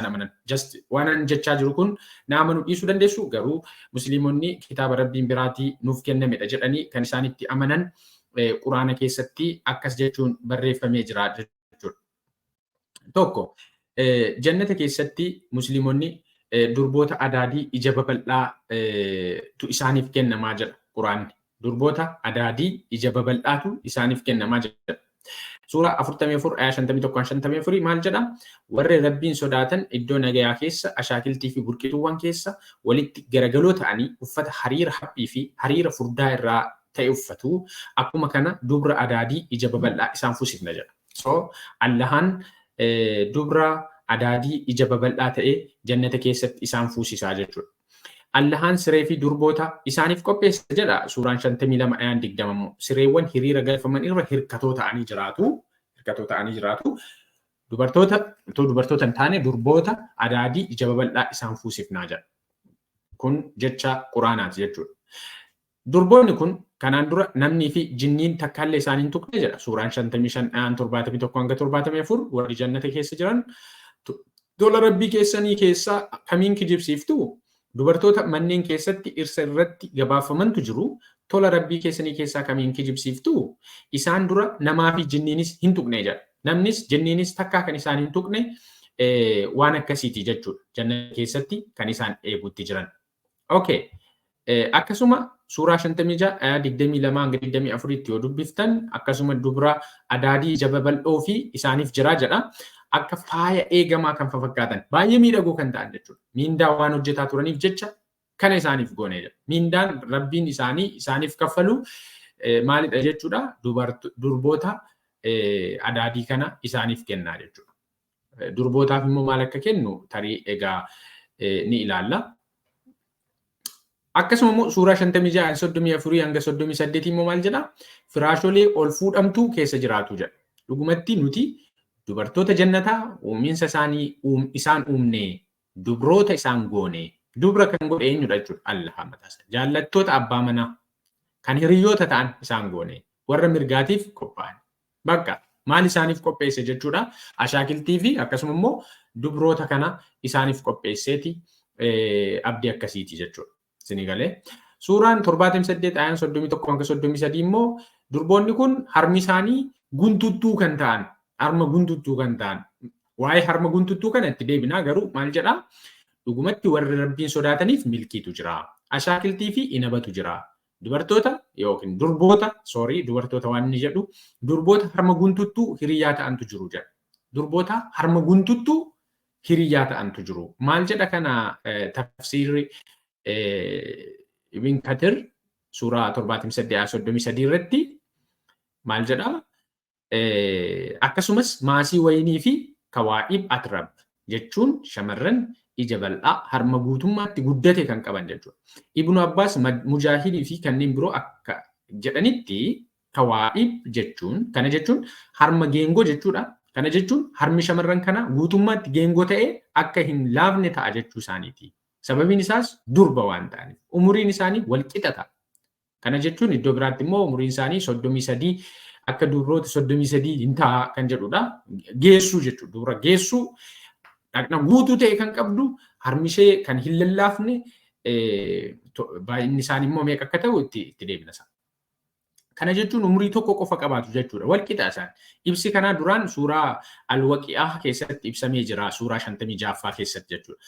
isaan amanan. Just waan an jechaa jiru kun na amanu dhiisuu dandeessu garuu musliimonni kitaaba rabbiin biraatii nuuf kennamedha jedhanii kan isaan itti amanan quraana keessatti akkas jechuun barreeffamee jira jechuudha. Tokko jannata keessatti musliimonni durboota adaadii ija babal'aa tu isaaniif kennamaa jedha quraanni. Durboota adaadii ija babal'aatu isaaniif kennama jedha. Suuraa 44 ayaa 51-54 maal jedha? Warri Rabbiin sodaatan iddoo nagayaa keessa, ashaakiltii fi burqituuwwan keessa walitti garagaloo ta'anii uffata hariira haphii fi hariira furdaa irraa ta'e uffatu, akkuma kana dubra adaadii ija babal'aa isaan fusifna jedha. So, Allahaan dubra adaadii ija babal'aa ta'e jannata keessatti isaan fuusisaa jechuudha. Allahaan siree fi durboota isaaniif qopheesse jedha suuraan 52 ayaan 20 immoo sireewwan hiriira galfaman irra hirkatoo ta'anii jiraatu hirkatoo ta'anii jiraatu dubartoota otoo dubartoota hin taane durboota adaadii ija babal'aa isaan fuusifnaa jedha kun jecha quraanaati jechuudha Durboonni kun kanaan dura namnii fi jinniin takkaallee isaan hin tuqne jedha suuraan 55 ayaan 71-74 warri jannata keessa jiran tola rabbii keessanii keessaa kamiin kijibsiiftu dubartoota manneen keessatti dhirsa irratti gabaafamantu jiru tola rabbii keessanii keessaa kamiin kijibsiiftu isaan dura namaa fi jinniinis hin tuqne jedha namnis jinniinis takkaa kan isaan hin tuqne waan akkasiiti jechuudha jannata keessatti kan isaan eeguutti jiran Okay. Akkasuma suuraa 56 ayaa 22 hanga 24tti yoo dubbiftan akkasuma dubra adaadii ija babal'oo fi isaaniif jira jedha. Akka faaya eegamaa kan fakkaatan baay'ee miidhagoo kan ta'an jechuudha. Miindaa waan hojjetaa turaniif jecha kana isaaniif goone jedha. Miindaan rabbiin isaanii isaaniif kaffalu maalidha jechuudha. Durboota adaadii kana isaaniif kennaa jechuudha. Durbootaaf immoo maal akka kennu tarii egaa ni ilaalla. Akkasuma immoo suuraa 56 34 hanga 38 immoo maal jedha? Firaasholee ol fuudhamtuu keessa jiraatu jedha. Dhugumatti nuti dubartoota jannataa uuminsa isaanii isaan uumnee dubroota isaan goonee dubra kan godhe eenyudha jechuudha allaha mataasa jaallattoota abbaa manaa kan hiriyoota ta'an isaan goone warra mirgaatiif qophaa'an Baqqa! Maal isaaniif qopheesse jechuudha? Ashaakiltii fi akkasuma immoo dubroota kana isaaniif qopheesseeti abdii akkasiiti jechuudha. Isinii galee? Suuraan 78 ayaan 31 hanga 33 immoo durboonni kun harmi isaanii guntuttuu kan ta'an, harma guntuttuu kan ta'an. Waa'ee harma guntuttuu kana itti deebinaa garuu maal jedhaa? Dhugumatti warri Rabbiin sodaataniif milkiitu jira. Ashaakiltii fi inabatu jira. Dubartoota yookiin durboota, sorry, dubartoota waan inni jedhu, durboota harma guntuttuu hiriyyaa ta'antu jiru jedha. Durboota harma guntuttuu hiriyyaa ta'antu jiru. Maal jedha kana tafsiirri Ibn Kathir suuraa 78 irratti maal jedha? Akkasumas maasii wayinii fi kawaa'ib atrab jechuun shamarran ija bal'aa harma guutummaatti guddate kan qaban jechuudha. Ibnu Abbaas, Mujaahidii fi kanneen biroo akka jedhanitti kawaa'ib jechuun kana jechuun harma geengoo jechuudha. Kana jechuun harmi shamarran kanaa guutummaatti geengoo ta'ee akka hin laafne ta'a jechuu isaaniiti. Sababiin isaas durba waan ta'aniif umuriin isaanii wal qixa ta'a. Kana jechuun iddoo biraatti immoo umuriin isaanii 33 akka duubroota 33 hin ta'a kan jedhudha. Geessuu jechuudha. Dubra geessuu dhaqna guutuu ta'e kan qabdu harmishee kan hin lallaafne baay'inni isaanii immoo meeqa akka ta'u itti itti deebina isaa. Kana jechuun umurii tokko qofa qabaatu jechuudha. Wal qixa isaan. Ibsi kanaa duraan suuraa alwaqi'aa keessatti ibsamee jira. Suuraa 56ffaa keessatti jechuudha.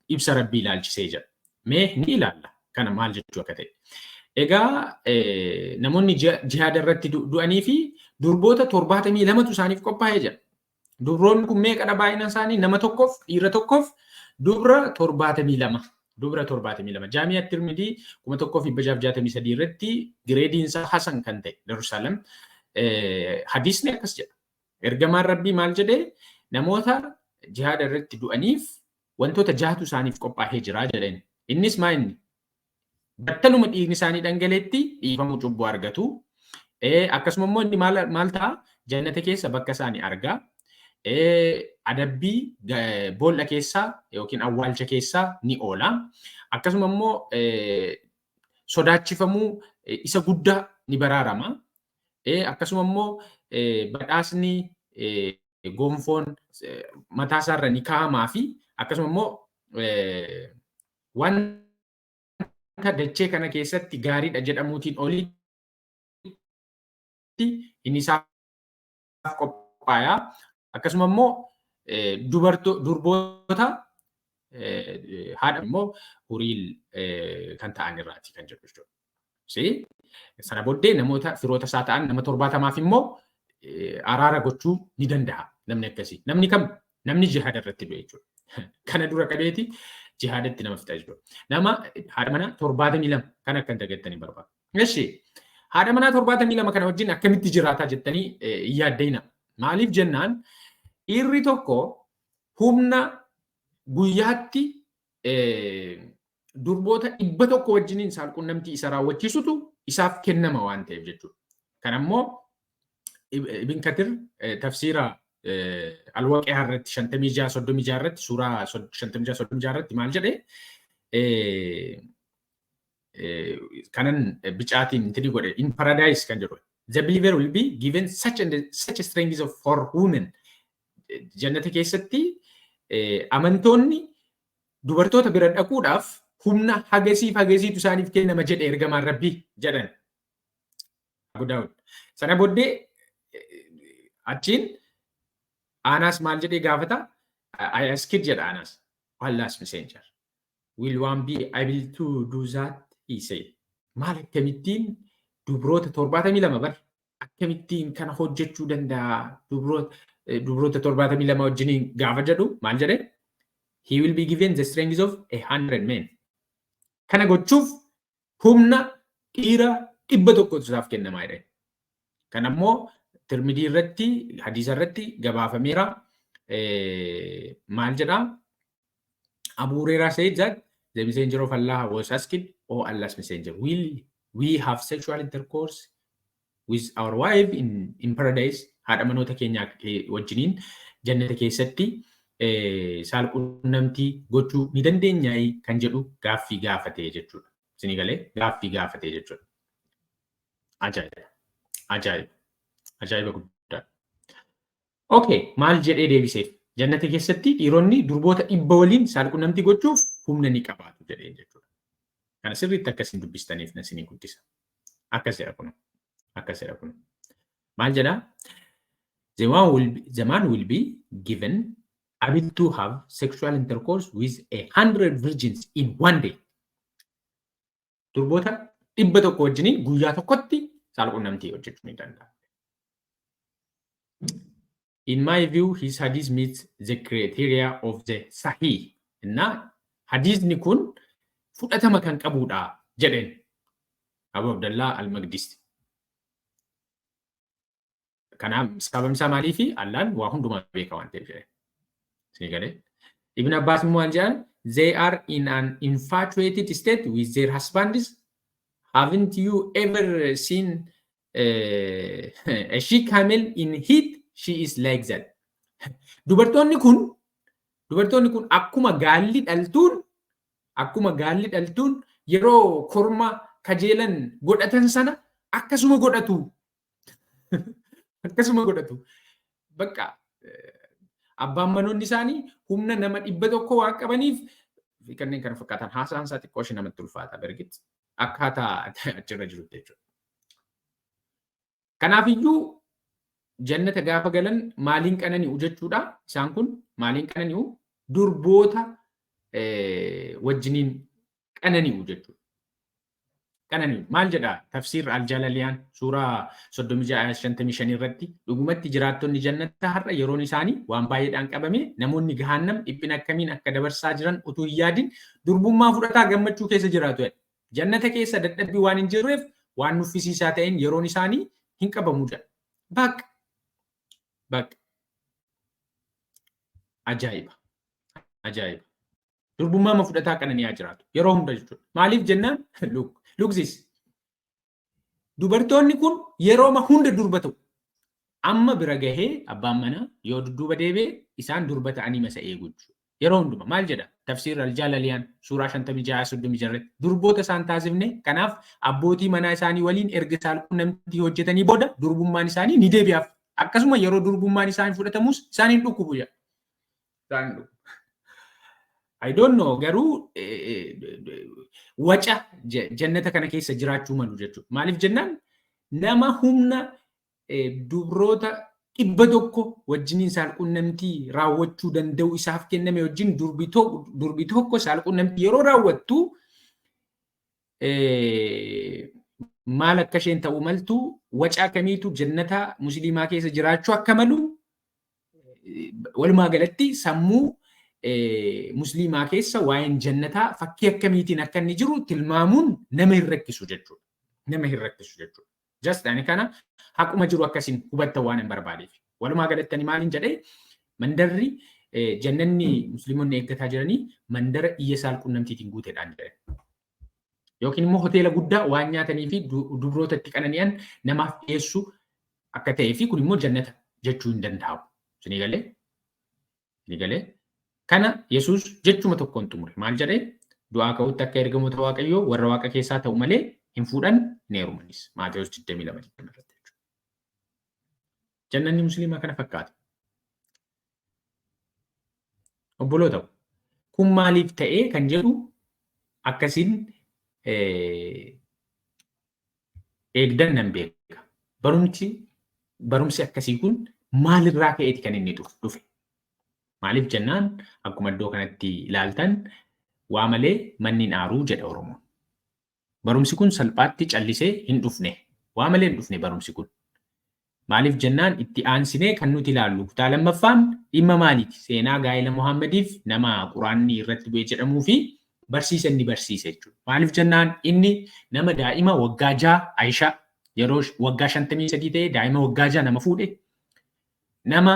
Ibsa rabbii ilaalchisee jira. Mee ni ilaalla kana maal jechuu akka ta'e. Egaa namoonni jihaada irratti du'anii fi durboota torbaatamii lamatu isaaniif qophaa'ee jira. Dubroonni kun meeqadha baay'ina isaanii nama tokkoof dhiira tokkoof dubra torbaatamii lama. Dubra torbaatamii lama. Jaamiyaa Tirmidii kuma tokkoo fi dhibba jaaf jaatamii sadii irratti gireediin isaa Hasan kan ta'e Darussalam hadiisni akkas jedha. Ergamaan Rabbii maal jedhee namoota jihaada irratti du'aniif Wantoota jahatu isaaniif qophaahee jira jedheen. Innis maa inni? Battaluma dhiigni isaanii dhangaleetti dhiifamuu cubbuu argatu. Akkasuma immoo inni maal ta'a? Jannata keessa bakka isaanii arga. Adabbii boolla keessaa yookiin awwaalcha keessaa ni oola. Akkasuma immoo sodaachifamuu isa guddaa ni baraarama. E. Akkasuma immoo badhaasni gonfoon mataa isaa irra ni kaa'amaa fi akkasuma immoo wanta dachee kana keessatti gaariidha jedhamuutiin olitti hin isaaf dhiiraaf qophaaya. Akkasuma immoo durboota haadha immoo huriil kan ta'an irraati kan jedhu jechuudha. Sana booddee namoota firoota isaa ta'an nama torbaatamaaf immoo araara gochuu ni danda'a namni akkasii. Namni kam namni jihaada irratti du'e jechuudha. Kana dura qabeeti jihaadatti nama fixa jechuudha. Nama haadha manaa torbaatamii lama kan akka hin dagattanii barbaadu. Eshi haadha manaa torbaatamii lama kana wajjin akkamitti jiraataa jettanii hin yaaddayina. Maaliif jennaan dhiirri tokko humna guyyaatti durboota dhibba tokko wajjiniin saalqunnamtii isa raawwachiisutu isaaf kennama waan ta'eef jechuudha. Kan ammoo Ibn Katir tafsiira alwaqiyaa irratti shantamii ja'a soddomii ja'a irratti suuraa shantamii ja'a soddomii ja'a irratti maal jedhee kanan bicaatiin intini godhe in paradise kan jedhu the believer will be given such and such strength of for women jannata keessatti amantoonni dubartoota bira dhaquudhaaf humna hagasiif hagasiitu isaaniif kennama jedhe ergamaan rabbii jedhan Abu Daawud sana booddee achiin Aanaas maal jedhee gaafata I asked jedha Aanaas Allah's messenger Will one be able to do that? he said. Maal akkamittiin dubroota 72 bar akkamittiin kana hojjechuu danda'a dubroota eh, dubroota 72 wajjiniin gaafa jedhu maal jedhe? He will be given the strength of a hundred men. Kana gochuuf Humna dhiira 100tu isaaf kennamaa jedhan. Kan ammoo Tirmidii irratti hadiisa irratti gabaafameera. Maal jedhaa? Abu Hurairah said that the messenger of Allah was asked, O Allah's messenger, will we have sexual intercourse with our wife in, in paradise haadha manoota keenya wajjiniin jannata keessatti saal qunnamtii gochuu ni dandeenyaayii kan jedhu gaaffii gaafatee jechuudha. Isinii galee gaaffii gaafatee jechuudha. Ajaa'iba! Ajaa'iba! Ajaa'iba guddaa! Okay, maal jedhee deebiseef? Jannata keessatti dhiironni durboota dhibba waliin saalqunnamtii gochuuf humna ni qabaatu jedhee jechuudha. Kana sirriitti akka isin dubbistaniif na isinii guddisa. Akkas jedha kun. Akkas jedha kun. Maal jedha? The man will be, the man will be given ability to have sexual intercourse with a hundred virgins in one day. durboota dhibba tokko wajjiniin guyyaa tokkotti saal qunnamtii hojjechuu ni danda'a. In my view, his hadith meets the criteria of the sahih. እና hadiisni kun fudhatama kan qabudha jedheen Abu Abdallah al-Maqdisi. Kanaaf sababni isaa maaliifi Allaan waa hundumaa beeka waan ta'eef jedhe. Sii galee. Ibn Abbas immoo waan jedhan they are in an infatuated state with their husbands haven't you ever seen uh, a she camel in heat she is like that. Dubartoonni kun dubartoonni kun akkuma gaalli dhaltuun akkuma gaalli dhaltuun yeroo korma kajeelan godhatan sana akkasuma godhatu Akkasuma godhatu. Bakka abbaan manoonni isaanii humna nama dhibba tokko waan qabaniif fi kanneen kana fakkaatan haasaan isaa xiqqoo ishee namatti ulfaata bergit akkaataa achirra jirutti jechuudha. Kanaafiyyuu jannata gaafa galan maaliin qanani'u jechuudha isaan kun maaliin qanani'u durboota wajjiniin qanani'u jechuudha. Qanani'u maal jedha tafsiir aljalaliyaan suuraa 36-55 irratti dhugumatti jiraattonni jannata har'a yeroon isaanii waan baay'eedhaan qabame namoonni gahaannam dhiphina akkamiin akka dabarsaa jiran utuu hin yaadin durbummaa fudhataa gammachuu keessa jiraatu jedha. Jannata keessa dadhabbii waan hin jirreef waan nuffisiisaa ta'een yeroon isaanii hin qabamu jedha. Baq! Baq! Ajaa'iba! Ajaa'iba! Durbummaa ma fudhataa qananii haa jiraatu. Yeroo hunda jechuudha. Maaliif jennaan lugzis. Dubartoonni kun yeroo ma hunda durba ta'u. Amma bira gahee abbaan manaa yoo dudduuba deebi'e isaan durba ta'anii masa eegu jechuudha. Yeroo hunduma maal jedha? Tafsiirri aljaalaliyaan suuraa 56-36 irratti durboota isaan taasifne kanaaf abbootii manaa isaanii waliin erga saalqunnamtii hojjetanii booda durbummaan isaanii ni deebi'aaf. Akkasuma yeroo durbummaan isaanii fudhatamus isaaniin dhukkubu jedha. Daanduu. I don't know garuu eh, eh, waca je- jannata kana keessa jiraachuu malu jechuudha. Maaliif jennaan nama humna eh, dubroota dhibba tokko wajjiniin saalqunnamtii raawwachuu danda'u isaaf kenname wajjin durbi to- durbi tokko saalqunnamtii yeroo raawwattu eh, maal akka isheen ta'uu maltu waca akkamiitu jannata musliimaa keessa jiraachuu akka malu Walumaa galatti sammuu musliimaa keessa waa'een jannataa fakkii akkamiitiin akka inni jiru tilmaamuun nama hin rakkisu jechuudha. Nama hin rakkisu jechuudha. Just ani kana haquma jiru akkasiin hubattan waan hin barbaadeef. Walumaa galatti ani maaliin jedhee mandarri jannanni musliimonni eeggataa jiranii mandara iyya saal qunnamtiitiin guuteedhaan jedhan. yookiin immoo hoteela guddaa waan nyaatanii fi dubroota itti qanani'an namaaf dhiyeessu akka ta'ee fi kun immoo jannata jechuu hin danda'amu. Isinii galee? Isinii galee? Kana Yesuus jechuma tokkoon xumure. Maal jedhee? Du'aa ka'utti akka ergamoota Waaqayyoo warra Waaqa keessaa ta'u malee hin fuudhan hin heerumanis. Maatewos 22 irratti jechuudha. Jannanni musliimaa kana fakkaata. Obboloota kun maaliif ta'ee kan jedhu akkasiin eegdan nan beeka. Barumsi barumsi akkasii kun maalirraa ka'eeti kan inni dhufe? Maaliif jennaan akkuma iddoo kanatti ilaaltan waa malee manni hin aaruu jedha Oromoon. Barumsi kun salphaatti callisee hin dhufne. Waa malee hin dhufne barumsi kun. Maaliif jennaan itti aansinee kan nuti ilaallu kutaa lammaffaan dhimma maaliiti? Seenaa gaa'ela Muhammadiif nama Quraanni irratti bu'e jedhamuu fi barsiisa inni barsiise jechuudha. Maaliif jennaan inni nama daa'ima waggaa ja'a Ayishaa yeroo waggaa 53 ta'e daa'ima waggaa ja'a nama fuudhe Nama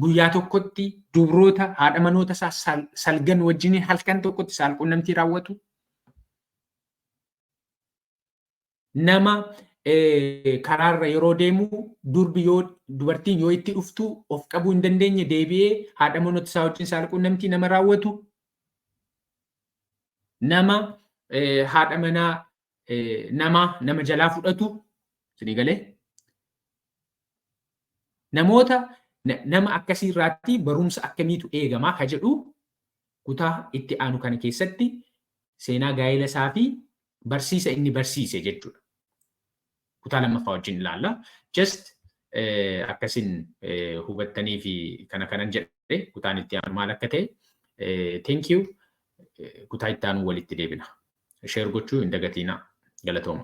guyyaa tokkotti dubroota haadha manoota isaa salgan wajjiniin halkan tokkotti saalqunnamtii raawwatu. Nama karaarra yeroo deemu durbi yoo dubartiin yoo itti dhuftu of qabuu hin dandeenye deebi'ee haadha manoota isaa wajjin saalqunnamtii nama raawwatu. Nama haadha manaa nama nama jalaa fudhatu isinii galee namoota nama akkasii irraatti barumsa akkamiitu eegamaa ka jedhu kutaa itti aanu kana keessatti seenaa gaa'ela isaa fi barsiisa inni barsiise jechuudha. kutaa lammaffaa wajjin ilaalla. Just akkasin hubattanii fi kana kanan jedhe kutaan itti aanu maal akka ta'e thank you kutaa itti aanu walitti deebina. Share gochuu hin dagatiinaa. Galatooma.